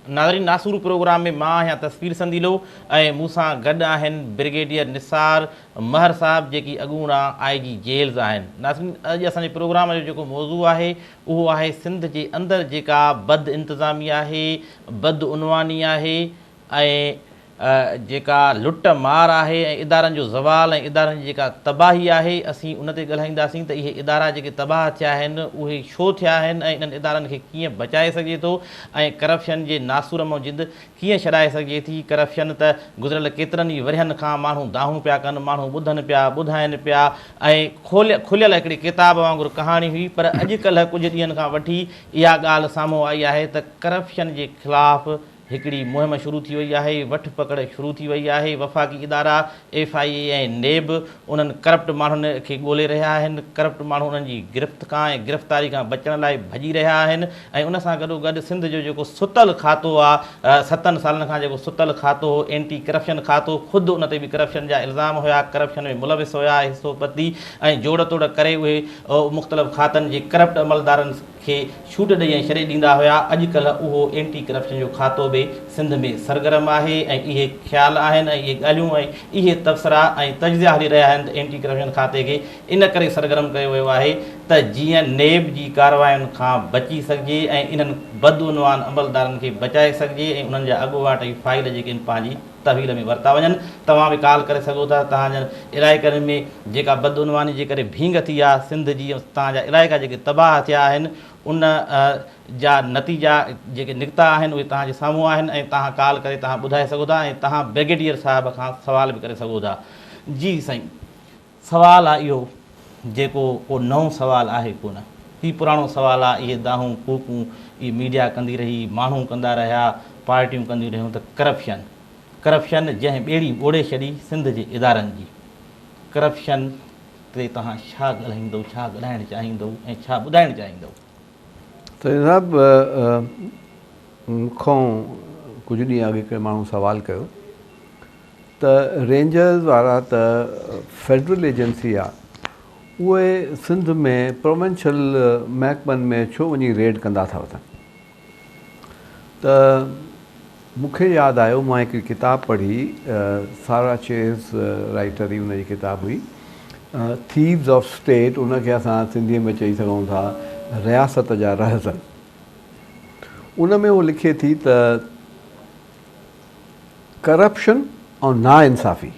ناظرين ناسور پروگرام ۾ مان آهيان تصوير سنديلو ۽ مون سان گڏ آهن برگيڊيئر نثار مهر صاحب جيڪي اڳوڻا آء جي جيلز آهن ناظرين اڄ اسان جي پروگرام جو جيڪو موضوع آهي اهو آهي سنڌ جي اندر جيڪا بد انتظامي آهي بد عنواني آهي ۽ جيڪا لٽ مار آهي ۽ ادارن جو زوال ۽ ادارن جي جيڪا تباهي آهي اسين ان تي ڳالهائينداسين ته اهي ادارا جيڪي تباهه ٿيا آهن اهي ڇو ٿيا آهن ۽ انهن ادارن کي ڪيئن بچائي سگهجي ٿو ۽ ڪرپشن جي ناسور مئن جند ڪيئن ڇڏائي سگهجي ٿي ڪرپشن ته گذريل ڪيترن ئي ورهين کان ماڻهو دانهون پيا ڪن ماڻهو ٻڌن پيا ٻڌائين پيا ۽ کليل هڪڙي ڪتاب وانگر ڪهاڻي هئي پر اڄ ڪلهه ڪجهه ڏينهن کان وٺي اها ڳالهه سامهون آئي آهي ته ڪرپشن جي خلاف هڪڙي مهم شروع ٿي وئي آهي، وٺ پڪڙ شروع ٿي وئي آهي، وفاقي ادارا ايف آء اي ۽ نيب انهن ڪرپٽ ماڻهن کي ڳولي رهيا آهن، ڪرپٽ ماڻهو انهن جي گرفت کان ۽ گرفتاري کان بچڻ لاء ڀڄي رهيا آهن ۽ ان سان گڏو گڏ سنڌ جو جيڪو ستل کاتو آ ستن سالن کان جيڪو ستل کاتو هو اينٽي ڪرپشن کاتو خود ان تي به ڪرپشن جا الزام هيا ڪرپشن ۾ ملوث هيا حصو پتي ۽ جوڙ توڙ ڪري اهي مختلف کاتن جي ڪرپٽ عملدارن کي ڇوٽ ڏئي ۽ ڇڏي ڏيندا هيا، اڄ ڪلهه اهو اينٽي ڪرپشن جو کاتو به سنڌ ۾ سرگرم آهي ۽ اهي خيال آهن ۽ اهي ڳالهيون ۽ اهي تبصرا ۽ تجزيا هلي رهيا آهن ته اينٽي ڪرپشن کاتي کي ان ڪري سرگرم ڪيو ويو آهي ته جيئن نيب جي ڪاررواين کان بچي سگهجي ۽ انهن بدعنوان عملدارن کي بچائي سگهجي ۽ انهن جا اڳواٽ ۽ فائل جيڪي آهن پنهنجي تحويل ۾ ورتا وڃن. توهان به ڪال ڪري سگهو ٿا ته توهان جن علائقن ۾ جيڪا بدعنواني جي ڪري ڀينگ ٿي آ سنڌ جي ۽ توهان جا علائقا جيڪي تباهه ٿيا آهن ان جا نتيجا جيڪي نڪتا آهن اهي توهان جي سامهون آهن ۽ توهان ڪال ڪري توهان ٻڌائي سگهو ٿا ۽ توهان بريگيڊيئر صاحب کان سوال به ڪري سگهو ٿا. جي سائين. سوال آ اهو جيڪو ڪو نئون سوال آهي ڪونه هي پراڻو سوال آ اهي دانهون ڪوڪون اهي ميڊيا ڪندي رهي ماڻهون ڪندا رهيا پارٽيون ڪنديون رهيون ته ڪرپشن ڪرپشن جنهن ٻيڙي ٻوڙي ڇڏي سنڌ جي ادارن جي ڪرپشن تي توهان ڇا ڳالهائيندؤ ڇا ڳالهائڻ چاهيندؤ ۽ ڇا ٻڌائڻ چاهيندؤ. سائين صاحب مون کان ڪجهه ڏينهن اڳ هڪڙي ماڻهو سوال ڪيو ته رينجرز وارا ته فيڊرل ايجنسي آ اهي سنڌ ۾ پروونشل محڪمن ۾ ڇو وڃي ريڊ ڪندا ٿا وتن ته مون کي ياد آيو مان هڪڙي ڪتاب پڙهي سارا چيز رائيٽر هئي ان جي ڪتاب هئي ٿيوز آف اسٽيٽ ان کي اسان سنڌي ۾ چئي سگهون ٿا رياست جا رهزن ان ۾ هو لکي ٿي ته ڪرپشن ۽ ناانصافي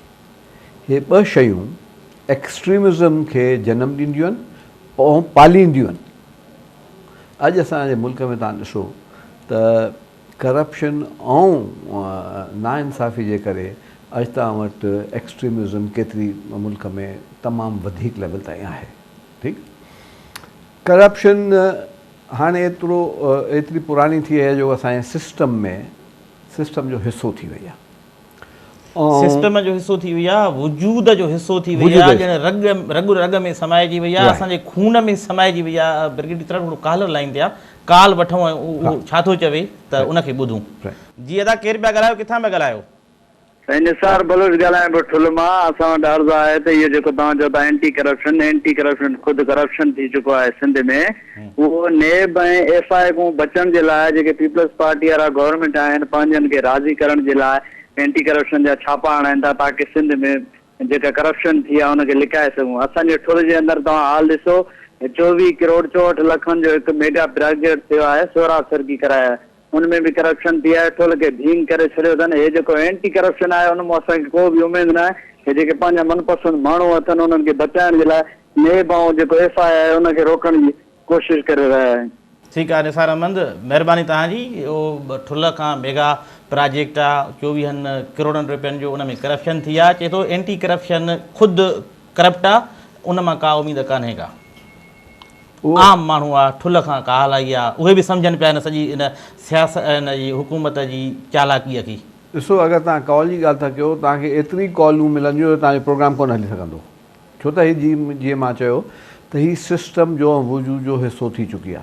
هي ٻه شيون ايڪسٽريمزم کي جنم ڏينديون آهن ۽ پالينديون آهن. اڄ اسان جي ملڪ ۾ توهان ڏسو ته ڪرپشن ۽ ناانصافي جي ڪري اڄ توهان وٽ ايڪسٽريمزم ڪيتري ملڪ ۾ تمام وڌيڪ ليول تائين آهي. ٺيڪ. ڪرپشن هاڻي ايترو ايتري پراڻي ٿي وئي آهي جو اسان جي سسٽم ۾ سسٽم جو حصو ٿي وئي آهي ۽. سسٽم جو حصو ٿي وئي آهي وجود جو حصو ٿي وئي آهي ڄڻ رڳ رڳ رڳ ۾ سمائجي وئي آهي اسان جي خون ۾ سمائجي وئي آهي برگيڊي ترڙ ھڙو ڪالر لائين تي آهي ڪال وٺون ۽ اھو ڇا ٿو چوي ته ان کي ٻڌون. جي ادا ڪير پيا ڳالھايو ڪٿان پيا ڳالھايو. سائين نثار بلوچ ڳالهائڻ به ٺلهه مان اسان وٽ عرض آهي ته اهو جيڪو توهان چئو ٿا اينٽي ڪرپشن اينٽي ڪرپشن خود ڪرپشن ٿي چڪو آهي سنڌ ۾ اهو نيب ۽ ايف آء اي کون بچڻ جي لاء جيڪي پيپلز پارٽي وارا گورنمينٽ آهن پنهنجن کي راضي ڪرڻ جي لاء اينٽي ڪرپشن جا ڇاپا هڻائين ٿا تاڪه سنڌ ۾ جيڪا ڪرپشن ٿي آهي ان کي لڪائي سگهون اسان جي ٺلهه جي اندر توهان حال ڏسو چوويهه ڪروڙ چوهٺ لکن جو هڪ ميگا پراجيڪٽ ٿيو آهي سهراب سرڪي ڪرايو آهي ان ۾ به ڪرپشن ٿي آهي ٺول کي ڀينگ ڪري ڇڏيو اٿن هي جيڪو اينٽي ڪرپشن آهي ان مون اسان کي ڪو به اميد ناهي هي جيڪي پنهنجا من پسند ماڻهو اٿن انهن کي بچائڻ جي لاء نيب ۽ جيڪو ايف آء آء ان کي روڪڻ جي ڪوشش ڪري رهيا آهن. ٺيڪ آ نثار احمد مھرباني توھان جي اھو ٺلھ کان ميگا پراجيڪٽ آ چوويھن ڪروڙن روپين جو ان ۾ ڪرپشن ٿي آ چئي ٿو اينٽي ڪرپشن خود ڪرپٽ آ ان مان ڪا اميد ڪانهي ڪا عام ماڻهو آ ٺلهه کان ڪاهلائي آ اهي به سمجهن پيا ان سڄي ان سياست ان جي حڪومت جي چالاڪيء کي. ڏسو اگر توهان ڪال جي ڳالهه ٿا ڪيو توهان کي ايتري ڪالون ملنديون جو توهان جو پروگرام ڪونه هلي سگهندو ڇو ته هي جي جيئن مان چيو ته هي سسٽم جو ۽ وجود جو حصو ٿي چڪي آ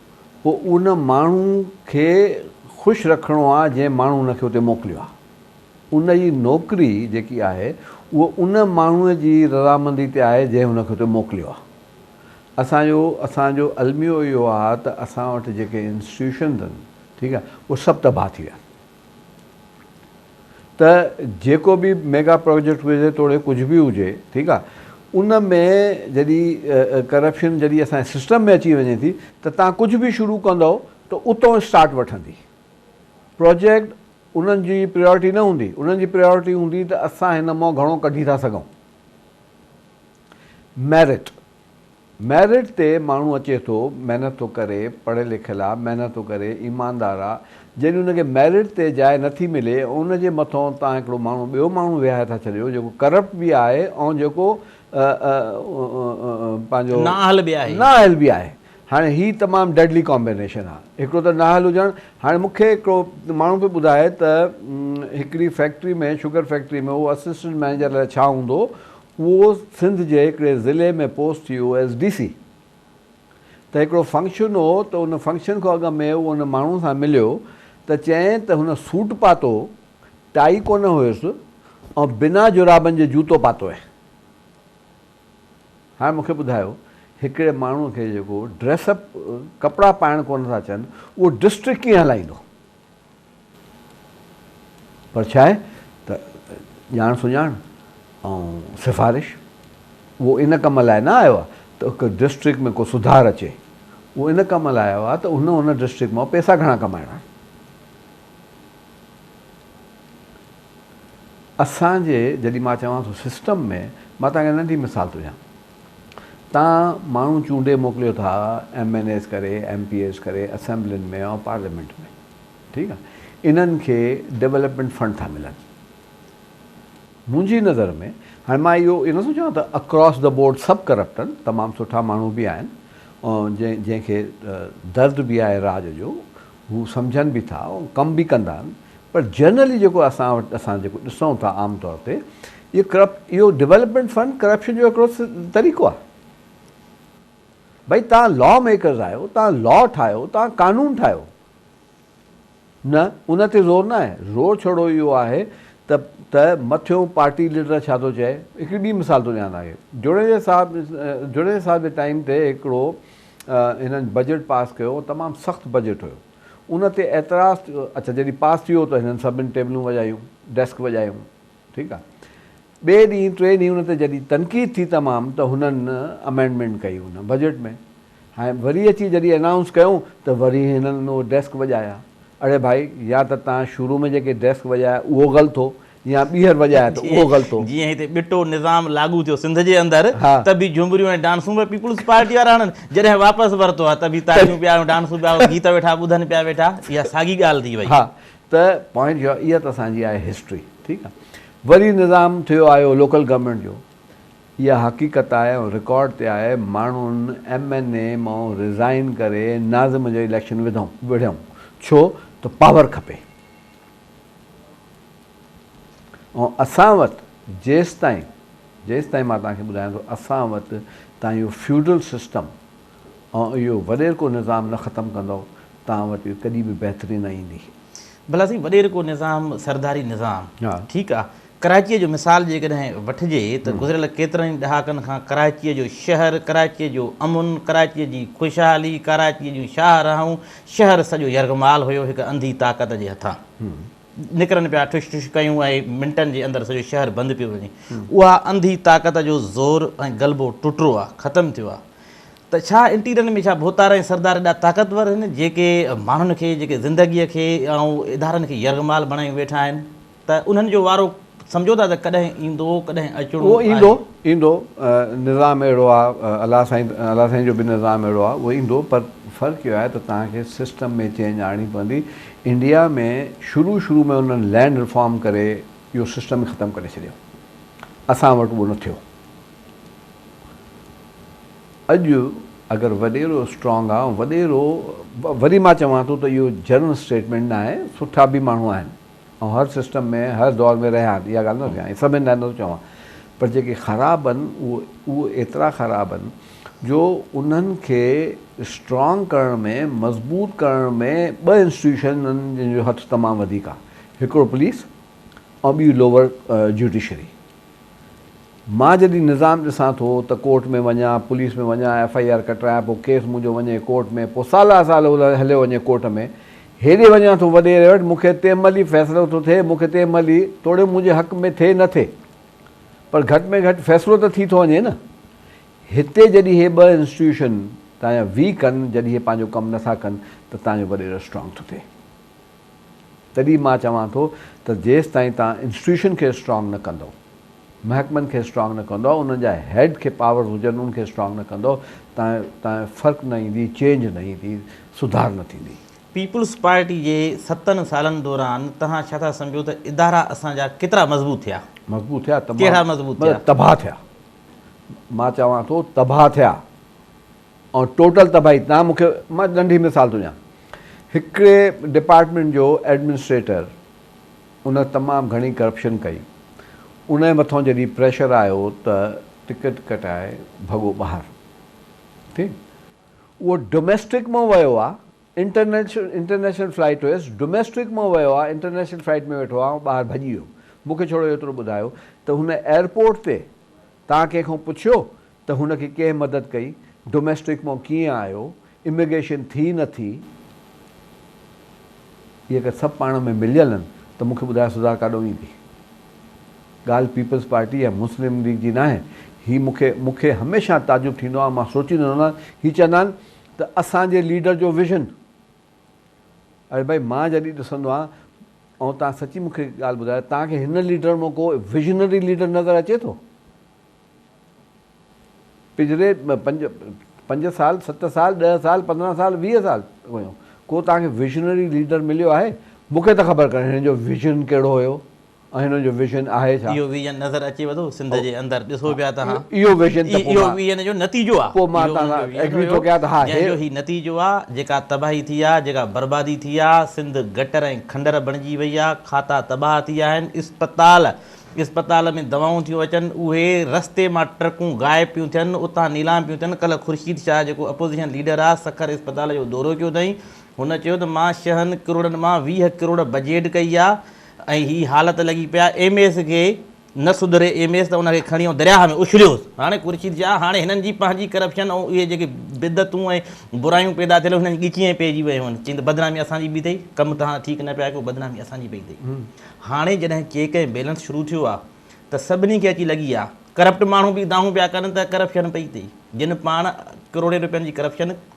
پوء ان ماڻهو کي خوش رکڻو آهي جنهن ماڻهو ان کي اتي موڪليو آهي. ان جي نوڪري جيڪي آهي اهو ان ماڻهو جي رضامندي تي آهي جنهن ان کي اتي موڪليو آهي. اسان جو اسان جو الميو اهو آهي ته اسان وٽ جيڪي انسٽيٽيوشنز آهن ٺيڪ آهي اهي سڀ تباهه ٿي ويا آهن. ته جيڪو به ميگا پراجيڪٽ هجي توڙي ڪجهه به هجي ٺيڪ آ ان ۾ جڏي ڪرپشن جڏي اسان جي سسٽم ۾ اچي وڃي ٿي ته تان ڪجهه به شروع ڪندؤ ته اتئون اسٽارٽ وٺندي پراجيڪٽ انهن جي پريورٽي نه هوندي انهن جي پريورٽي هوندي ته اسان هن مئو گهڻو ڪڍي ٿا سگهون ميرٽ ميرٽ تي ماڻهو اچي ٿو، محنت ٿو ڪري، پڙهيل لکيل آ، محنت ٿو ڪري، ايماندار آ، جڏهن ان کي ميرٽ تي جاء نه ٿي ملي ۽ ان جي مٿئون توهان هڪڙو ماڻهو ٻيو ماڻهو ويهاري ٿا ڇڏيو جيڪو ڪرپٽ به آهي ۽ جيڪو پنهنجو نااهل به آهي. نااهل به آهي. هاڻي هي تمام ڊيڊلي ڪامبينيشن آ. هڪڙو ته نااهل هجڻ، هاڻي مون کي هڪڙو ماڻهو پيو ٻڌائي ته هڪڙي فيڪٽري ۾ شگر فيڪٽري ۾ هو اسسٽنٽ مئنيجر الاء ڇا هوندو اهو سنڌ جي هڪڙي ضلعي ۾ post U S D C تي هڪڙو فنڪشن هو ته ان فنڪشن کان اڳ ۾ اهو ان ماڻهو سان مليو ته چيائين ته هن سوٽ پاتو ٽائي ڪونه هيس ۽ بنا جرابن جي جوتو پاتو هين هاڻي مون کي ٻڌايو هڪڙي ماڻهو کي جيڪو ڊريس اپ ڪپڙا پائڻ ڪونه ٿا اچن اهو ڊسٽرڪٽ ڪيئن هلائيندو پر ڇا آهي ته ڄاڻ سڃاڻ ۽ سفارش اهو ان ڪم لاء نه آيو آهي ته هڪ ڊسٽرڪٽ ۾ ڪو سڌار اچي اهو ان ڪم لاء آيو آهي ته هن ان ڊسٽرڪٽ مان پئسا گهڻا ڪمائڻا آهن. اسان جي جڏهن مان چوان ٿو سسٽم ۾ مان توهان کي ننڍي مثال ٿو ڏيان تان ماڻهو چونڊي موڪليو ٿا ايم اين ايز ڪري ايم پي ايز ڪري اسيمبلين ۾ ۽ پارليامينٽ ۾ ٺيڪ آ انهن کي ڊولپمينٽ فنڊ ٿا ملن منهنجي نظر ۾ هاڻي مان اهو اهو نه سوچان ته اڪراس دا بورڊ سڀ ڪرپٽ آهن تمام سٺا ماڻهو به آهن جنهن جنهن کي درد به آهي راڄ جو هو سمجهن به ٿا ڪم به ڪندا آهن پر جنرلي جيڪو اسان وٽ اسان جيڪو ڏسون ٿا عام طور تي اهو ڪرپٽ اهو ڊولپمينٽ فنڊ ڪرپشن جو هڪڙو طريقو آهي ڀئي توهان لا ميڪرز آهيو توهان لا ٺاهيو توهان قانون ٺاهيو نه ان تي زور ناهي زور ڇڙو اهو آهي ته ته مٿيون پارٽي ليڊر ڇا ٿو چئي هڪڙي ٻي مثال ٿو ڏيان توهان کي جوڻيجا صاحب جوڻيجا صاحب جي ٽائيم تي هڪڙو هنن بجيٽ پاس ڪيو تمام سخت بجيٽ هيو ان تي اعتراض اڇا جڏهن پاس ٿي ويو ته هنن سڀن ٽيبلون وڄايون ڊيسڪ وڄايون ٺيڪ آ. ٻئي ڏينهن ٽئين ڏينهن ان تي جڏهن تنقيد ٿي تمام ته هنن امينڊمينٽ ڪئي ان بجيٽ ۾ هائين وري اچي جڏهن انائونس ڪيون ته وري هنن اهي ڊيسڪ وڄايا اڙي ڀائي يا ته تان شروع ۾ جيڪي ڊيسڪ وڄايا اهو غلط هو يا ٻيهر وڄايا ته اهو غلط هو. جيئن هتي ٻٽو نظام لاڳو ٿيو سنڌ جي اندر ته به جهومريون ۽ ڊانسون به پيپلز پارٽي وارا هنن جڏهن واپس ورتو آ ته به تاڙيون پيا ۽ ڊانسون پيا ۽ گيت ويٺا ٻڌن پيا ويٺا اها ساڳي ڳالهه ٿي وئي. ته پوائنٽ جو اها ته اسان جي آهي هسٽري ٺيڪ آهي وري نظام ٿيو آيو لوڪل گورنمينٽ جو اها حقيقت آهي ۽ رڪارڊ تي آهي ماڻهن ايم اين اي مئون ريزائن ڪري ناظم جو اليڪشن وڌئون وڙهيئون ڇو ته پاور کپي ۽ اسان وٽ جيستائين جيستائين مان توهان کي ٻڌايان ٿو اسان وٽ تان اهو فيوڊل سسٽم اوهان اهو وڏيرڪو نظام نه ختم ڪندؤ، توهان وٽ اهو ڪڏهن به بهتري نه ايندي. ڀلا سائين وڏيرڪو نظام، سرداري نظام، ٺيڪ آ، ڪراچيء جو مثال جيڪڏهن وٺجي ته گذريل ڪيترن ئي ڏهاڪن کان ڪراچيء جو شهر، ڪراچيء جو امن، ڪراچيء جي خوشحالي، ڪراچيء جون شاهراهون، شهر سڄو يرغمال هيو هڪ انڌي طاقت جي هٿان. نڪرن پيا ٺش ٺش ڪيون ۽ منٽن جي اندر سڄو شهر بند پيو وڃي. اها انڌي طاقت جو زور ۽ غلبو ٽٽرو آ، ختم ٿيو آ. ته ڇا انٽيريل ۾ ڇا ڀوتار ۽ سردار ايڏا طاقتور هن جيڪي ماڻهن کي جيڪي زندگي کي ۽ ادارن کي يرغمال بڻايون ويٺا آهن ته انهن جو وارو سمجهو ٿا ته ڪڏهن ايندو ڪڏهن اچڻو اهو ايندو آهي. ايندو نظام اهڙو آ الله سائين الله سائين جو به نظام اهڙو آ اهو ايندو پر فرق اهو آهي ته توهان کي سسٽم ۾ چينج آڻڻي پوندي انڊيا ۾ شروع شروع ۾ انهن لينڊ ريفارم ڪري اهو سسٽم ئي ختم ڪري ڇڏيو اسان وٽ اهو نه ٿيو. اڄ اگر وڏيرو اسٽرانگ آ وڏيرو وري مان چوان ٿو ته اهو جنرل اسٽيٽمينٽ ناهي سٺا به ماڻهو آهن آئون هر سسٽم ۾ هر دور ۾ رهيا آهن اها ڳالهه نٿو چوان سڀن لاء نٿو چوان پر جيڪي خراب آهن اهو ايترا خراب آهن جو انهن کي اسٽرانگ ڪرڻ ۾ مضبوط ڪرڻ ۾ ٻه انسٽيٽيوشنن جن جو هٿ تمام وڌيڪ آهي هڪڙو پوليس ۽ ٻي لوور جوڊيشري مان جڏهن نظام ڏسان ٿو ته ڪورٽ ۾ وڃان، پوليس ۾ وڃان، ايف آء آر ڪٽرايان، پوء ڪيس منهنجو وڃي ڪورٽ ۾، پوء سالا سال هليو وڃي ڪورٽ ۾، هيڏي وڃان ٿو وڏيري وٽ، مون کي تنهن مهل ئي فيصلو ٿو ٿئي، مون کي تنهن مهل ئي، توڙي منهنجي حق ۾ ٿئي نه ٿئي، پر گهٽ ۾ گهٽ فيصلو ته ٿي ٿو وڃي نه. هتي جڏهن هي ٻه انسٽيٽيوشن تنهنجا ويڪ آهن، جڏهن هي پنهنجو ڪم نه ٿا ڪن ته تنهنجو وڏيرو اسٽرانگ ٿو ٿئي. تڏهن مان چوان ٿو ته جيستائين توهان انسٽيٽيوشن کي اسٽرانگ نه ڪندؤ، محڪمن کي اسٽرانگ نه ڪندؤ، انهن جا هيڊ کي پاورز هجن انهن کي اسٽرانگ نه ڪندؤ تائين فرق نه ايندي، چينج نه ايندي، سڌار نه ٿيندي. پيپلز پارٽي جي ستن سالن دوران توهان ڇا ٿا سمجهو ته ادارا اسان جا ڪيترا مضبوط ٿيا؟ مضبوط ٿيا؟ تمام مضبوط ٿيا. تباهه ٿيا. مان چوان ٿو تباهه ٿيا. ۽ ٽوٽل تباهي تان مون کي مان ننڍي مثال ٿو ڏيان هڪڙي ڊپارٽمينٽ جو ايڊمنسٽريٽر ان تمام گهڻي ڪرپشن ڪئي انهي مٿان جڏهن پريشر آيو ته ٽڪيٽ ڪٽائي ڀڳو ٻاهر ٺيڪ اهو ڊوميسٽڪ مان ويو آ انٽرنيشنل فلائيٽ هيس ڊوميسٽڪ مان ويو آ انٽرنيشنل فلائيٽ ۾ ويٺو آ ۽ ٻاهر ڀڄي ويو مون کي ڇڙو ايترو ٻڌايو ته هن ايئرپورٽ تي تان ڪنهن کان پڇيو ته هن کي ڪنهن مدد ڪئي؟ ڊوميسٽڪ مان ڪيئن آيو؟ اميگريشن ٿي نه ٿي؟ اهي اگر سڀ پاڻ ۾ مليل آهن ته مون کي ٻڌايو سزا ڪاڏانهن ويندي؟ ڳالهه پيپلز پارٽي يا مسلم ليگ جي ناهي. هي مون کي مون کي هميشه تعجب ٿيندو آهي مان سوچيندو رهندو آهيان هي چوندا آهن ته اسان جي ليڊر جو ويزن. اري ڀائي مان جڏهن ڏسندو آهيان ۽ توهان سچي مون کي ڳالهه ٻڌايو توهان کي هن ليڊر مان ڪو ويزنري ليڊر نظر اچي ٿو؟ پڄري پنج پنج سال ست سال ڏهه سال پندرهن سال ويهه سال ويو ڪو توهان کي ويزنري ليڊر مليو آهي؟ مون کي ته خبر ڪانهي هن جو ويزن ڪهڙو هيو ۽ هن جو ويزن آهي ڇا؟ اهو ويزن نظر اچيو ٿو سنڌ جي اندر ڏسو پيا تهان اهو ويزن ته پوء اهو ويزن جو نتيجو آهي پوء مان تهان سان ايگري ٿو ڪيان ته ها جنهن جو هي نتيجو آهي جيڪا تباهي ٿي آهي جيڪا بربادي ٿي آهي سنڌ گٽر ۽ کنڊر بڻجي وئي آهي کاتا تباهه ٿي آهي آهن اسپتال اسپتال ۾ دوائون ٿيون اچن اهي رستي مان ٽرڪون غائب پيون ٿين اتان نيلام پيون ٿين ڪلهه خورشيد شاهه جيڪو اپوزيشن ليڊر آهي سکر اسپتال جو دورو ڪيو اٿائين هن چيو ته مان شهن ڪروڙن مان ويهه ڪروڙ بجيٽ ڪئي آهي ۽ هي حالت لڳي پيا ايم ايس کي نه سڌري ايم ايس ته ان کي کڻي ائون درياهه ۾ اڇليوس هاڻي خورشيد شاهه هاڻي هنن جي پنهنجي ڪرپشن ۽ اهي جيڪي بدعتون ۽ برايون پيدا ٿيل هيون هنن جي ڳچيء ۾ پئجي ويون هيون چين ته بدنامي اسان جي به اٿئي ڪم توهان ٺيڪ نه پيا ڪيو بدنامي اسان جي به اٿئي هاڻي جڏهن چيڪ ۽ بيلنس شروع ٿيو آهي ته سڀني کي اچي لڳي آهي ڪرپٽ ماڻهو به دانهون پيا ڪن ته ڪرپشن پئي اٿئي جن پاڻ ڪروڙين روپين جي ڪرپشن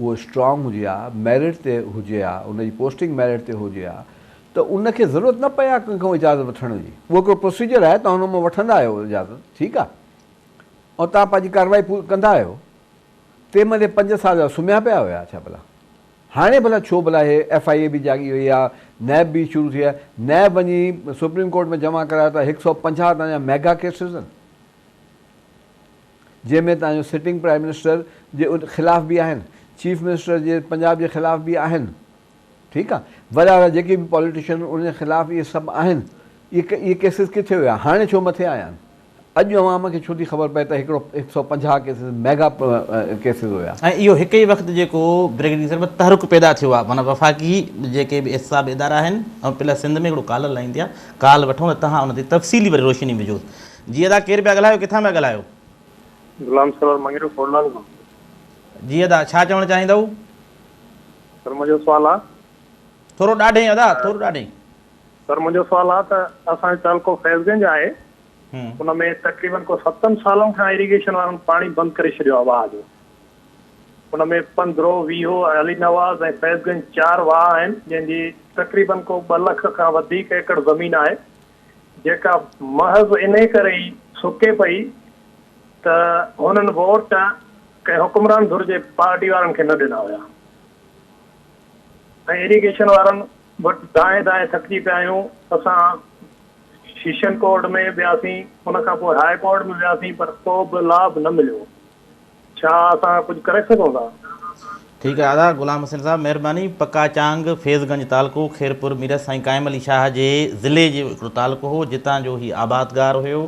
اهو اسٽرانگ هجي ها، ميرٽ تي هجي ها، ان جي پوسٽنگ ميرٽ تي هجي ها ته ان کي ضرورت نه پئي ها ڪنهن کان اجازت وٺڻ جي. اهو هڪڙو پروسيجر آهي، توهان ان مان وٺندا آهيو اجازت، ٺيڪ آهي، ۽ توهان پنهنجي ڪارروائي پوري ڪندا آهيو. تنهن مهل هي پنج سال جا سمهيا پيا هيا ڇا ڀلا؟ هاڻي ڀلا ڇو ڀلا هي ايف آء اي به جاڳي وئي ها، نيب به شروع ٿي آهي، نيب وڃي سپريم ڪورٽ ۾ جمع ڪرايو ته هڪ سؤ پنجاهه توهان جا ميگا ڪيسز آهن. جنهن ۾ تنهنجو سٽنگ پرائيم منسٽر جي خلاف به آهن چيف منسٽر جي پنجاب جي خلاف به آهن ٺيڪ آ وڏا وڏا جيڪي به پاليٽيشن انهن خلاف اهي سڀ آهن اهي ڪيسز ڪٿي هيا هاڻي ڇو مٿي آيا آهن اڄ عوام کي ڇو ٿي خبر پئي ته هڪڙو هڪ سئو پنجاهه ڪيسز ميگا ڪيسز هيا. ۽ اهو هڪ ئي وقت جيڪو برگيڊينسر ۾ تحرڪ پيدا ٿيو آ معنيٰ وفاقي جيڪي به احتساب ادارا آهن ۽ پلس سنڌ ۾ هڪڙو ڪالر لائيندي آ ڪال وٺون ته تهان ان تي تفصيلي وري روشني وجهوس جي ادا ڪير پيا ڳالهايو ڪٿان پيا ڳالهايو. غلام سرور مڱريو کوڙلال کان. جي ادا ڇا چوڻ چاهيندؤ. سر منهنجو سوال آ. ٿورو ڏاڍي ادا ٿورو ڏاڍي. سر منهنجو سوال آ ته اسان جو تعلقو فيض گنج آهي ان ۾ تقريبن ڪو ستن سالن کان ايريگيشن وارن پاڻي بند ڪري ڇڏيو آ واهه جو ان ۾ پندرو ويهو علي نواز ۽ فيض گنج چار واهه آهن جنهن جي تقريبن ڪو ٻه لک کان وڌيڪ ايڪڙ زمين آهي جيڪا محض انهيء ڪري ئي سڪي پئي ته هنن ووٽ ڪنهن حڪمران ڌر جي پارٽي وارن کي نه ڏنا هيا ۽ ايريگيشن وارن وٽ دانهين دانهين ٿڪجي پيا آهيون. اسان سيشن ڪورٽ ۾ وياسين، ان کان پوء هاء ڪورٽ ۾ وياسين پر ڪو به لاڀ نه مليو. ڇا اسان ڪجهه ڪري سگهون ٿا؟ ٺيڪ آهي ادا غلام حسين صاحب مهرباني پڪا چانگ فيض گنج تعلقو خيرپور ميرس سائين قائم علي شاهه جي ضلعي جو هڪڙو تعلقو هو جتان جو هي آبادگار هيو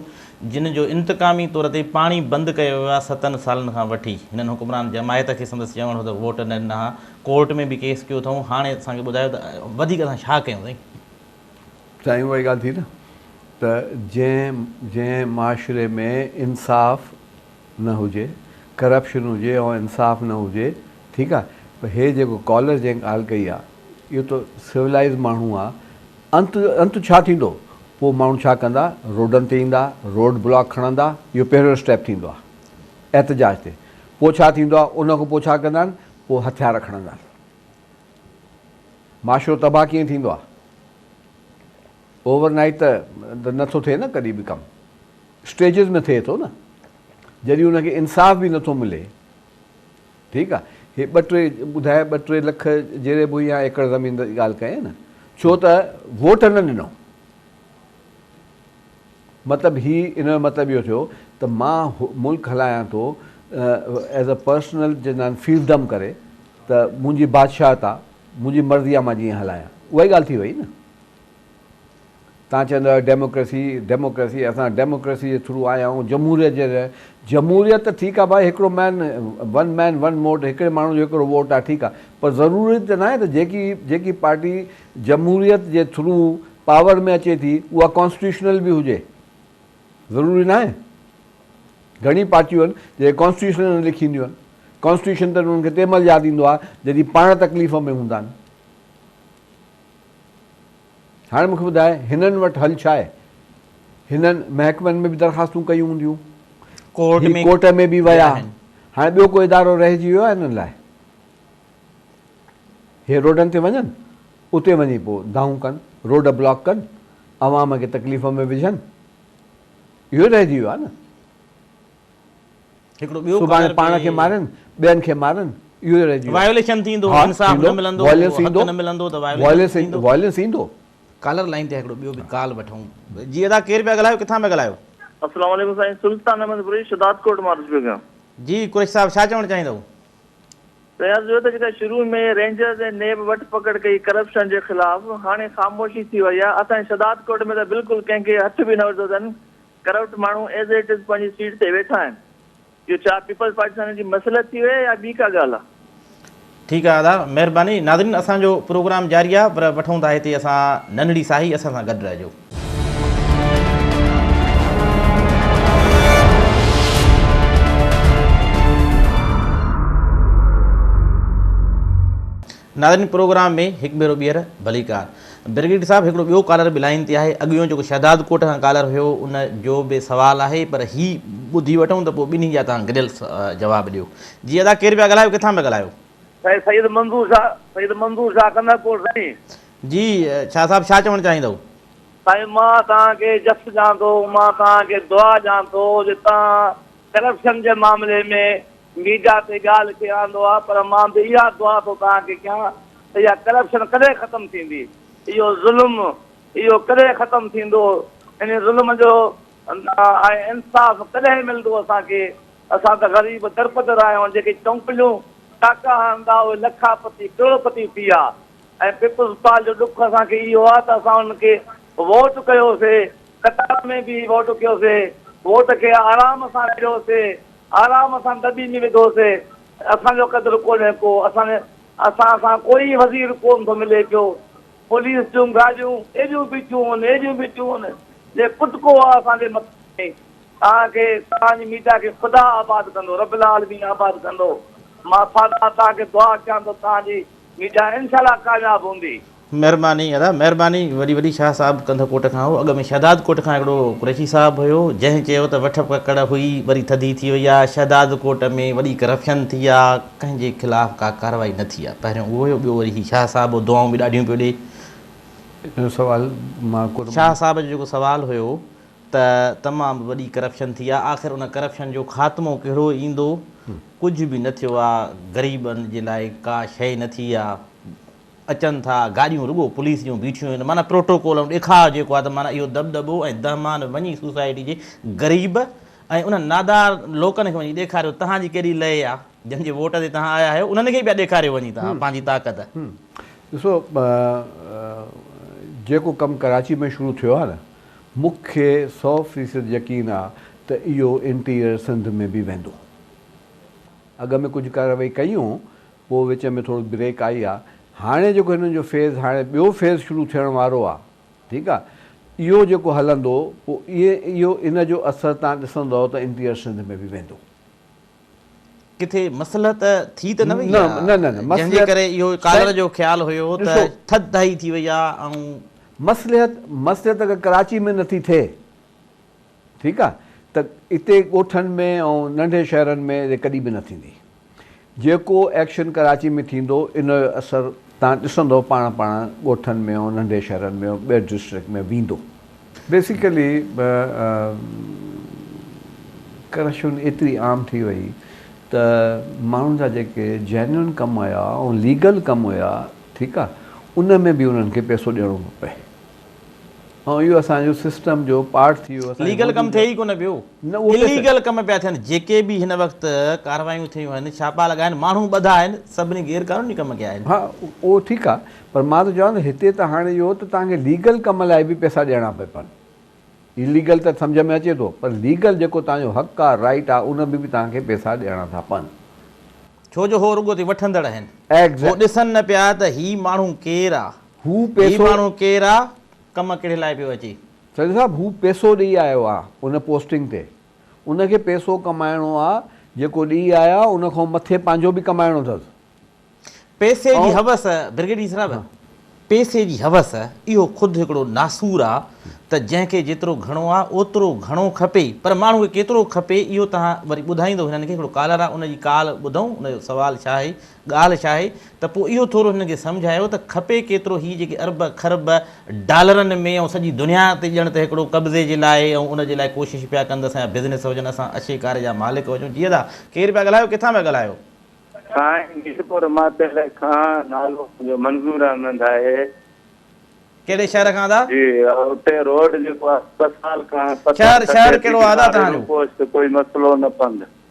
جن جو انتقامي طور تي پاڻي بند ڪيو ويو آهي ستن سالن کان وٺي هنن حڪمران جماعت کي سندس چوڻ هو ته ووٽ نه ڏنا ها ڪورٽ ۾ به ڪيس ڪيو اٿئون هاڻي اسان کي ٻڌايو ته وڌيڪ اسان ڇا ڪيون سائين سائين اها ئي ڳالهه ٿي نه ته جنهن جنهن معاشري ۾ انصاف نه هجي، ڪرپشن هجي ۽ انصاف نه هجي ٺيڪ آ پر هي جيڪو ڪالر جنهن ڳالهه ڪئي آ اهو ته سولائيز ماڻهو آ انت انت ڇا ٿيندو پوء ماڻهو ڇا ڪندا روڊن تي ايندا روڊ بلاڪ کڻندا اهو پهريون اسٽيپ ٿيندو آ احتجاج تي پوء ڇا ٿيندو آ ان کان پوء ڇا ڪندا آهن پوء هٿيار کڻندا آهن معاشرو تباهه ڪيئن ٿيندو آ. اوور نائيٽ ته نه ٿو ٿئي نه ڪڏهن به ڪم اسٽيجز ۾ ٿئي ٿو نه جڏهن ان کي انصاف به نٿو ملي ٺيڪ آ هي ٻه ٽي ٻڌائي ٻه ٽي لک جيري بوي يا ايڪڙ زمين جي ڳالهه ڪئي نه ڇو ته ووٽ نه ڏنو مطلب هي ان جو مطلب اهو ٿيو ته مان ملڪ هلايان ٿو ایز اے پرسنل جنان فيلدم ڪري ته منهنجي بادشاهت آ منهنجي مرضي آ مان جيئن هلايان اها ئي ڳالهه ٿي وئي نه تان چوندو آهيو ڊيموڪريسي ڊيموڪريسي اسان ڊيموڪريسي جي ٿرو آيا آهيون جمهوريت جي جمهوريت ته ٺيڪ آهي ڀائي هڪڙو man one man one vote هڪڙي ماڻهو جو هڪڙو ووٽ آهي ٺيڪ آهي پر ضروري ته ناهي ته جيڪي جيڪي پارٽي جمهوريت جي ٿرو پاور ۾ اچي ٿي اها ڪانسٽيٽيوشنل به هجي ضروري ناهي گھڻي پارٽيون آهن جي ڪانسٽيٽيوشن نه لکينديون آهن ڪانسٽيٽيوشن ته انهن کي تنهن مهل ياد ايندو آهي جڏهن پاڻ تڪليف ۾ هوندا آهن هاڻي مونکي ٻڌاء هنن وٽ حل ڇا آهي؟ هنن محڪمن ۾ به درخواستون ڪيون هونديون، هي ڪورٽ ۾ به ويا، هاڻي ٻيو ڪو ادارو رهجي ويو آهي هنن لاء؟ هي روڊن تي وڃن، اتي وڃي پوء دانهون ڪن، روڊ بلاڪ ڪن، عوام کي تڪليف ۾ وجهن، اهو ئي رهجي ويو آهي نه. سڀاڻي پاڻ کي مارين ٻين کي مارين اهو ئي رهجي ويو. وائيوليشن ٿيندو، انصاف نه ملندو، حق نه ملندو ته وائيوليشن ٿيندو. ڪالر لائين تي هڪڙو ٻيو به ڪال وٺون. جي ادا ڪير پيا ڳالهايو ڪٿان پيا ڳالهايو. السلام عليڪم سائين سلطان احمد قريش شھداد ڪوٽ مان عرض پيو ڪيان. جي قريش صاحب ڇا چوڻ چاهيندؤ. سائين عرض اهو ته جيڪا شروع ۾ رينجرز ۽ نيب وٺ پڪڙ ڪئي ڪرپشن جي خلاف هاڻي خاموشي ٿي وئي آهي اسان جي شھداد ڪوٽ ۾ ته بلڪل ڪنهن کي هٿ به نه وڌو اٿن ڪرپٽ ماڻهو ايز ايٽ از پنهنجي سيٽ تي ويٺا آهن اهو ڇا پيپلز پارٽي سان هن جي مصلحت ٿي وئي يا ٻي ڪا ڳالهه آهي. ٺيڪ آ ادا مھرباني. ناظرين اسان جو پروگرام جاري آ پر وٺون ٿا ھتي اسان ننھڙي ساھي اسان سان گڏ رھجو. ناظرين پروگرام ۾ هڪ ڀيرو ٻيهر ڀليڪار. برگيڊ صاحب هڪڙو ٻيو ڪالر به لائين تي آهي اڳيون جيڪو شهداد ڪوٽ کان ڪالر هيو ان جو به سوال آهي پر هي ٻڌي وٺون ته پوء ٻنهي جا توهان گڏيل جواب ڏيو. جي ادا ڪير پيا ڳالهايو ڪٿان پيا ڳالهايو. سائين سيد منظور شاهه سيد منظور شاهه ڪنڌر ڪوٽ سائين. جي شاهه صاحب ڇا چوڻ چاهيندؤ. سائين مان توهان کي جس ڄان ٿو مان توهان کي دعا ڄان ٿو جي توهان ڪرپشن جي معاملي ۾ ميڊيا تي ڳالهه ڪيئي آندو آ پر مان به اها دعا ٿو توهان کي ڪيان ته اها ڪرپشن ڪڏهن ختم ٿيندي اهو ظلم اهو ڪڏهن ختم ٿيندو ان ظلم جو ۽ انصاف ڪڏهن ملندو اسان کي اسان ته غريب درپدر آهيون جيڪي چونپليون ٽاڪا هڻندا اهي لکا پتي ڪروڙ پتي ٿي ويا ۽ پيپلز پارٽ جو ڏک اسان کي اهو آ ته اسان انهن کي ووٽ ڪيوسي قطار ۾ بيهي ووٽ ڪيوسي ووٽ کي آرام سان ڏيوسي. آرام سان دٻي ۾ وڌو سي، اسان جو قدر ڪونهي ڪو، اسان اسان سان ڪوئي وزير ڪون ٿو ملي پيو، پوليس جون گاڏيون ايڏيون بيٺيون هن، ايڏيون بيٺيون هن، جي ڪٽڪو آ اسان جي مٿن ۾، توهان کي توهان جي ميڊيا کي خدا آباد ڪندو، رب العالمين آباد ڪندو، مان سادا توهان کي دعا ڪيان ٿو توهان جي ميڊيا انشاء الله ڪامياب هوندي. مھرباني ادا مھرباني وڏي وڏي شاھ صاحب ڪنڌ ڪوٽ کان ھو اڳ ۾ شھداد ڪوٽ کان ھڪڙو قريشي صاحب ھيو جنھن چيو ته وٺ ڪڪڙ ھئي وري ٿڌي ٿي وئي آ شھداد ڪوٽ ۾ وڏي ڪرپشن ٿي آ ڪنھن جي خلاف ڪا ڪاروائي نه ٿي آ پهريون اھو ھيو ٻيو وري ھي شاھ صاحب ھو دعائون به ڏاڍيون پيو ڏي شاھ صاحب جو جيڪو سوال ھيو ته تمام وڏي ڪرپشن ٿي آ آخر ان ڪرپشن جو خاتمو ڪهڙو ايندو ڪجھ به نه ٿيو آ غريبن جي لاء ڪا شئي نه ٿي آ اچن ٿا، گاڏيون رڳو پوليس جون بيٺيون آهن، معنيٰ پروٽوڪول ۽ ڏيکاء جيڪو آهي ته معنيٰ اهو دٻدٻو ۽ دهمان وڃي سوسائٽي جي غريب ۽ انهن نادار لوڪن کي وڃي ڏيکاريو تهان جي ڪيڏي لئي آ، جن جي ووٽ تي تهان آيا آهيو انهن کي پيا ڏيکاريو وڃي تهان پنهنجي طاقت. ڏسو جيڪو ڪم ڪراچي ۾ شروع ٿيو آهي نه مون کي سئو فيصد يقين آ ته اهو انٽيريئر سنڌ ۾ به ويندو اڳ ۾ ڪجهه ڪارروائي ڪيون پوء وچ ۾ ٿورو بريڪ آئي آ هاڻي جيڪو هنن جو فيز هاڻي ٻيو فيز شروع ٿيڻ وارو آ ٺيڪ آ اهو جيڪو هلندو پوء ائين اهو ان جو اثر تهان ڏسندؤ ته انٽيريئر سنڌ ۾ به ويندو. ڪٿي مصلحت ٿي ته نه وئي آ جنهن جي ڪري اهو ڪالر جو خيال هيو ته ٿڌ ڌائي ٿي وئي آ ۽. مصلحت مصلحت اگر ڪراچي ۾ نٿي ٿئي. ٺيڪ آ ته اتي ڳوٺن ۾ ۽ ننڍي شهرن ۾ اهي ڪڏهن به نه ٿيندي. جيڪو ايڪشن ڪراچي ۾ ٿيندو ان جو اثر تهان ڏسندؤ پاڻ پاڻ ڳوٺن ۾ ۽ ننڍي شهرن ۾ ۽ ٻين ڊسٽرڪٽ ۾ ويندو. بيسيڪلي ڪرپشن ايتري عام ٿي وئي ته ماڻهن جا جيڪي جينون ڪم هيا ۽ ليگل ڪم هيا ٺيڪ آ ان ۾ به انهن کي پئسو ڏيڻو پئي. ۽ اهو اسان جو سسٽم جو پارٽ ٿي ويو. ليگل ڪم ٿئي ئي ڪونه پيو. اليگل ڪم پيا ٿين. جيڪي به هن وقت ڪارروايون ٿيون آهن، ڇاپا لڳا آهن، ماڻهو ٻڌا آهن، سڀني غير قانوني ڪم ڪيا آهن. ها اهو ٺيڪ آهي پر مان ٿو چوان ته هتي ته هاڻي اهو ته توهان کي ليگل ڪم لاء به پئسا ڏيڻا پئي پون. اليگل ته سمجهه ۾ اچي ٿو پر ليگل جيڪو توهان جو حق آهي، رائيٽ آهي، ان ۾ به توهان کي پئسا ڏيڻا ٿا پون. ڇو جو هو رڳو تي وٺندڙ آهن. هو ڏسن نه پيا ته هي ماڻهو ڪير آهي. هو پيسو. هي ماڻهو ڪير آ ڪم ڪهڙي لاء پيو اچي. سيد صاحب هو پيسو ڏئي آيو آ ان پوسٽنگ تي ان کي پيسو ڪمائڻو آ جيڪو ڏئي آيو آ ان کان مٿي پنهنجو به ڪمائڻو اٿس. پيسي جي حوس برگيڊيئر صاحب پيسي جي حوس اهو خود هڪڙو ناسور آ ته جنهن کي جيترو گهڻو آ اوترو گهڻو کپي پر ماڻهو کي ڪيترو کپي اهو توهان وري ٻڌائيندو هنن کي هڪڙو ڪالر آ ان جي ڪال ٻڌئون ان جو سوال ڇا آهي ڳالهه ڇا آهي ته پوء اهو ٿورو هنن کي سمجهايو ته کپي ڪيترو هي جيڪي ارب کرب ڊالرن ۾ ۽ سڄي دنيا تي ڄڻ ته هڪڙو قبضي جي لاء ۽ ان جي لاء ڪوشش پيا ڪن ته اسان جا بزنس هجن اسان اشي ڪاري جا مالڪ هجون جي ادا ڪير پيا ڳالهايو ڪٿان پيا ڳالهايو. سائين ميرپور ماتل کان نالو منهنجو منظور احمد آهي. ڪهڙي شهر کان ادا. جي اتي روڊ جيڪو آهي اسپتال کان ستر سٽي ڊگهي وارو روپوسٽ ڪوئي مسئلو نه پنڌ.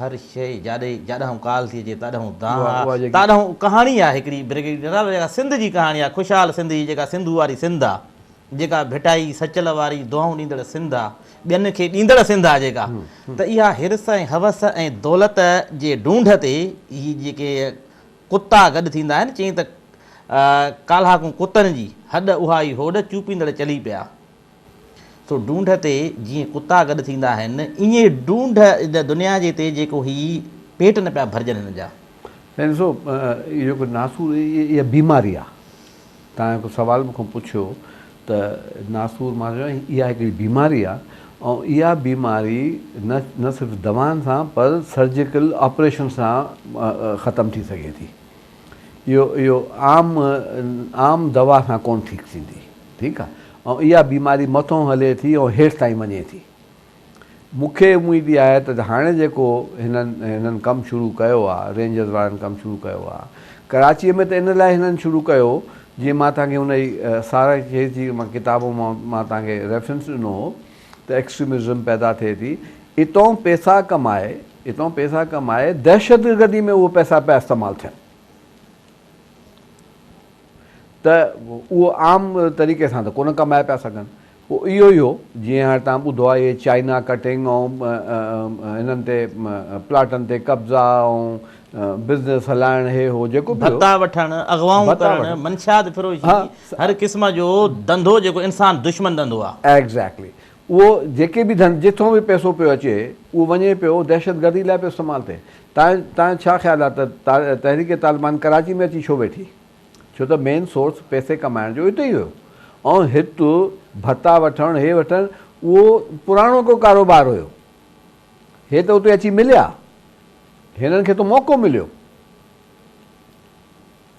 هر شيء جاڏي، جاڏانهون ڪال ٿي اچي تاڏانهون دانهن آ، تاڏانهون ڪهاڻي آ هڪڙي برگيڊيئر جنرال جيڪا سنڌ جي ڪهاڻي آ، خوشحال سنڌ جي جيڪا سنڌو واري سنڌ آ، جيڪا ڀٽائي سچل واري دعائون ڏيندڙ سنڌ آ، ٻين کي ڏيندڙ سنڌ آ جيڪا، ته اها حرص ۽ حوس ۽ دولت جي ڍونڍ تي هي جيڪي ڪتا گڏ ٿيندا آهن، چيائين ته ڪالهاڪون ڪتن جي هڏ اها ئي هوڏ چوپيندڙ چلي پيا. سو ڍونڍ تي جيئن ڪتا گڏ ٿيندا آهن، ايئن ڍونڍ ان دنيا جي تي جيڪو هي پيٽ نه پيا ڀرجن هن جا. سائين ڏسو اهو جيڪو ناسور اها بيماري آهي توهان هڪ سوال مون کان پڇيو ته ناسور مان چيو اها هڪڙي بيماري آهي ۽ اها بيماري نه نه صرف دوائن سان پر سرجيڪل آپريشن سان ختم ٿي سگهي ٿي اهو اهو عام عام دوا سان ڪونه ٺيڪ ٿيندي. ٺيڪ آ ۽ اها بيماري مٿون هلي ٿي ۽ هيٺ تائين وڃي ٿي مون کي اميد اها آهي ته هاڻي جيڪو هنن هنن ڪم شروع ڪيو آ رينجرز وارن ڪم شروع ڪيو آ ڪراچي ۾ ته ان لاء هنن شروع ڪيو جيئن مان توهان کي ان جي سارنگ کي جي مان ڪتابون مان مان توهان کي ريفرنس ڏنو هو ته ايڪسٽريمزم پيدا ٿئي ٿي اتئون پيسا ڪمائي اتئون پيسا ڪمائي دهشتگردي ۾ اهو پيسا پيا استعمال ٿين. ته اهو عام طريقي سان ته ڪونه ڪمائي پيا سگهن. پوء اهو ئي هو، جيئن هاڻي توهان ٻڌو آهي اهي چائنا ڪٽنگ ۽ هنن تي پلاٽن تي قبضا ۽ بزنس هلائڻ هي هو جيڪو به هو. ڀتا وٺڻ، اغوائون ڪرڻ، منشيات فروشي، هر قسم جو ڌنڌو جيڪو انسان دشمن ڌنڌو آهي. ايگزيڪٽلي. اهو جيڪي به ڌن جتھون به پئسو پيو اچي اهو وڃي پيو دهشتگردي لاء پيو استعمال ٿئي تنهن تنهن ڇا خيال آهي ته تحريڪ طالبان ڪراچي ۾ اچي ڇو ويٺي ڇو ته مين سورس پئسي ڪمائڻ جو اتي ئي هيو ۽ هت ڀتا وٺڻ هي وٺڻ اهو پراڻو ڪو ڪاروبار هيو هي ته اتي اچي مليا هنن کي ته موقعو مليو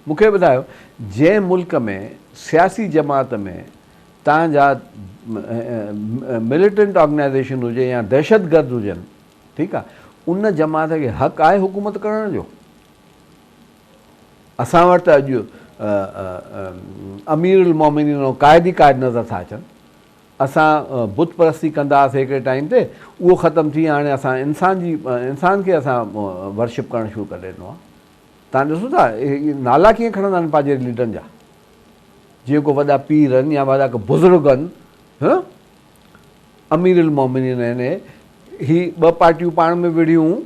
مون کي ٻڌايو جنهن ملڪ ۾ سياسي جماعت ۾ تان جا مليٽنٽ آرگنائيزيشن هجي يا دهشتگرد هجن ٺيڪ آ ان جماعت کي حق آهي حڪومت ڪرڻ جو اسان وٽ ته اڄ امير المومنين ۽ قائد ئي قائد نظر ٿا اچن اسان بت پرستي ڪندا هئاسي هڪڙي ٽائيم تي اهو ختم ٿي هاڻي اسان انسان جي انسان کي اسان ورشپ ڪرڻ شروع ڪري ڏنو آ توهان ڏسو ٿا اهي نالا ڪيئن کڻندا آهن پنهنجي ليڊرن جا جيئن ڪو وڏا پير آهن يا وڏا ڪو بزرگ آهن ها امير المومنين آهن هي ٻه پارٽيون پاڻ ۾ وڙهيون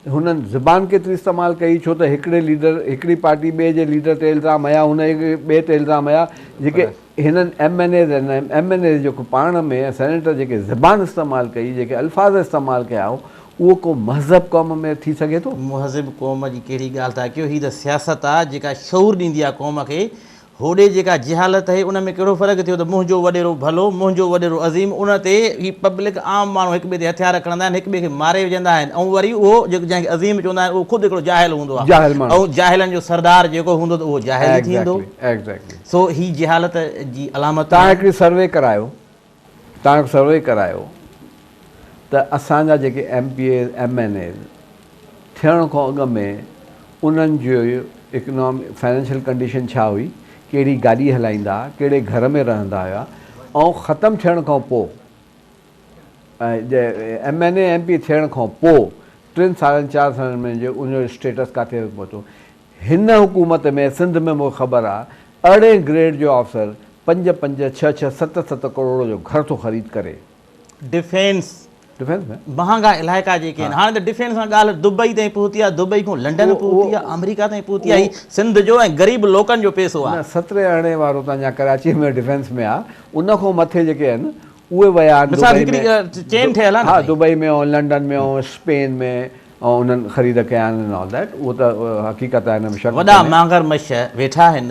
هنن زبان ڪيتري استعمال ڪئي ڇو ته هڪڙي ليڊر هڪڙي پارٽي ٻئي جي ليڊر تي الزام هيا هن ٻئي تي الزام هيا جيڪي هنن M N As ۽ M N As جيڪو پاڻ ۾ ۽ سينيٽر جيڪي زبان استعمال ڪئي، جيڪي الفاظ استعمال ڪيا هو، اهو ڪو مهذب قوم ۾ ٿي سگهي ٿو؟ مهذب قوم جي ڪهڙي ڳالهه ٿا ڪيو، هي ته سياست آ جيڪا شعور ڏيندي آ قوم کي، هوڏي جيڪا جهالت هي ان ۾ ڪهڙو فرق ٿيو ته منهنجو وڏيرو ڀلو، منهنجو وڏيرو عظيم، ان تي هي پبلڪ عام ماڻهو هڪ ٻئي تي هٿيار کڻندا آهن، هڪ ٻئي کي ماري وجهندا آهن ۽ وري اهو جيڪو جنهن کي عظيم چوندا آهن اهو خود هڪڙو جاهل هوندو آ ۽ جاهلن جو سردار جيڪو هوندو ته اهو جاهل ئي ٿيندو. سو هي جهالت جي علامتون آهن. توهان هڪڙي سروي ڪرايو توهان هڪ سروي ڪرايو ته اسان جا جيڪي M P As M N As ٿيڻ کان اڳ ۾ انهن جي اڪنامي فنانشل ڪنڊيشن ڇا هئي ڪهڙي گاڏي هلائيندا ها ڪهڙي گهر ۾ رهندا هيا ۽ ختم ٿيڻ کان پو M N A M P ٿيڻ کان پو ٽن سالن چار سالن ۾ انهن جو اسٽيٽس ڪاٿي پهتو هن حڪومت ۾ سنڌ ۾ مون کي خبر آ ارڙهين گريڊ جو آفسر پنج پنج ڇهه ڇهه ست ست ڪروڙ جو گهر ٿو خريد ڪري. Defence defence ۾. مهانگا علائقا جيڪي آهن هاڻي ته ڊفينس کان ڳالهه دبئي تائين پهتي آ دبئي کان لنڊن پهتي آ آمريڪا تائين پهتي آ هي سنڌ جو ۽ غريب لوڪن جو پيسو آ. نه سترهين ارڙهين وارو تان جا ڪراچي ۾ ڊفينس ۾ آ ان کان مٿي جيڪي آهن اهي ويا آهن مثال دبئي هڪڙي ۾ چين ٺهيل آهي نه ها سائين. دبئي ۾ ۽ لنڊن ۾ ۽ اسپين ۾ انهن خريد ڪيا آهن ان آل ڌيٽ اهو ته حقيقت آهي ان ۾ شڪ وڏا ڪونهي. مانگر مش ويٺا آهن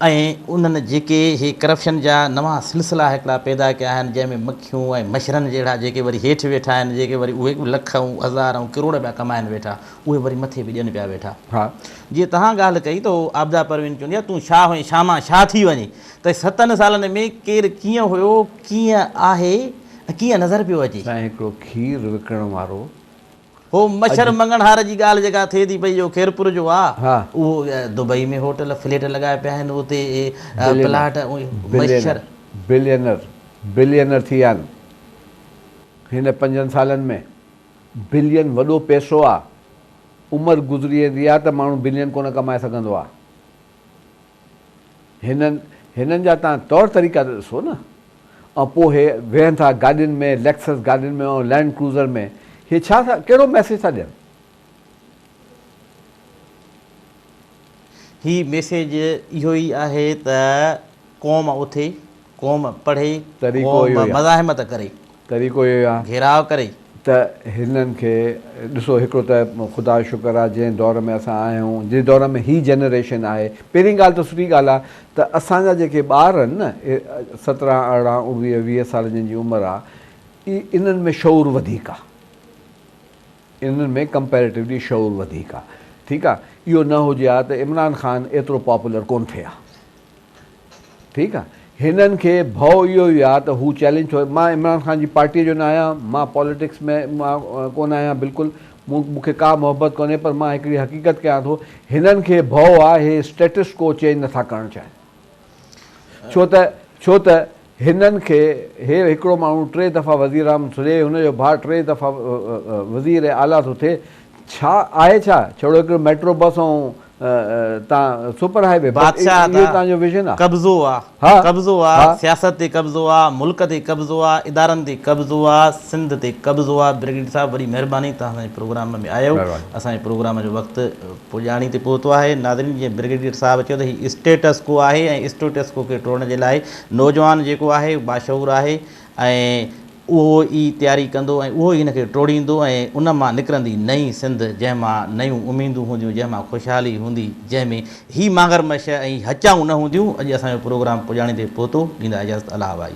۽ انهن جيڪي هي ڪرپشن جا نوان سلسلا هڪڙا پيدا ڪيا آهن جنهن ۾ مکيون ۽ مڇرن جهڙا جيڪي وري هيٺ ويٺا آهن جيڪي وري اهي به لک ۽ هزار ۽ ڪروڙ پيا ڪمائن ويٺا اهي وري مٿي به ڏين پيا ويٺا ها. جيئن توهان ڳالهه ڪئي ته عابده پروين چوندي آهي تون شاهه هئين شاهه مان شاهه ٿي وڃين ته ستن سالن ۾ ڪير ڪيئن هيو، ڪيئن آهي ۽ ڪيئن نظر پيو اچي. سائين هڪڙو کير وڪڻڻ وارو هو مڇر مڱڻهار جي ڳالهه جيڪا ٿئي ٿي پئي جو خيرپور جو آ اهو دبئي ۾ هوٽل فليٽ لڳايا پيا آهن اتي پلاٽ مڇر بلينر بلينر ٿي ويا آهن هن پنجن سالن ۾ بلين وڏو پئسو آ عمر گذري ويندي آ ته ماڻهو بلين ڪونه ڪمائي سگهندو آ. هنن هنن جا تان طور طريقا ته ڏسو نه. ۽ پوء هي ويهن ٿا گاڏين ۾ ليڪسس گاڏين ۾ ۽ لينڊ ڪروزر ۾ هي ڇا ٿا ڪهڙو ميسيج ٿا ڏين. هي ميسيج اهو ئي آهي ته قوم اٿي. قوم پڙهي، قوم مزاحمت ڪري، گهيراء ڪري. ته هنن کي ڏسو هڪڙو ته خدا جو شڪر آ جنهن دور ۾ اسان آهيون جنهن دور ۾ هي جنريشن آهي پهرين ڳالهه ته سٺي ڳالهه آ ته اسان جا جيڪي ٻار آهن نه سترهن ارڙهن اوڻويهه ويهه سال جن جي عمر آ انهن ۾ شعور وڌيڪ آ انهن ۾ ڪمپيريٽوولي شعور وڌيڪ آ ٺيڪ آ اهو نه هجي ها ته عمران خان ايترو پاپولر ڪون ٿئي ها. ٺيڪ آ هنن کي ڀئو اهو ئي آ ته هو چئلينج ڇو مان عمران خان جي پارٽي جو نه آهيان مان پاليٽڪس ۾ مان ڪونه آهيان بلڪل مون مون کي ڪا محبت ڪونهي پر مان هڪڙي حقيقت ڪيان ٿو هنن کي ڀئو آ هي اسٽيٽس ڪو چينج نٿا ڪرڻ چاهين ڇو ته ڇو ته هنن کي هي هڪڙو ماڻهو ٽي دفعا وزيراعم ٿو ٿئي، هن جو ڀاء ٽي دفعا وزير اعليٰ ٿو ٿئي، ڇا آهي ڇا؟ ڇڙو هڪڙي ميٽرو بس ۽ تان سپر هاء وي، بس اهو ئي توهان جو ويزن آ؟ قبضو آ، قبضو آ، سياست تي قبضو آ، ملڪ تي قبضو آ، ادارن تي قبضو آ، سنڌ تي قبضو آ. برگيڊيئر صاحب وڏي مهرباني توهان اسان جي پروگرام ۾ آيو، اسان جي پروگرام جو وقت پڄاڻي تي پهتو آهي. ناظرين جيئن برگيڊيئر صاحب چيو ته هي اسٽيٽس ڪو آهي ۽ اسٽيٽس ڪو کي ٽوڙڻ جي لاء نوجوان جيڪو آهي اهو باشعور آهي ۽ اهو ئي تياري ڪندو ۽ اهو ئي ان کي ٽوڙيندو ۽ ان مان نڪرندي نئين سنڌ جنهن مان نيون اميدون هونديون جنهن مان خوشحالي هوندي جنهن ۾ هي مانگر مش ۽ هچائون نه هونديون اڄ اسان جو پروگرام پڄاڻي تي پهتو ڏيندا اجازت الله وائي.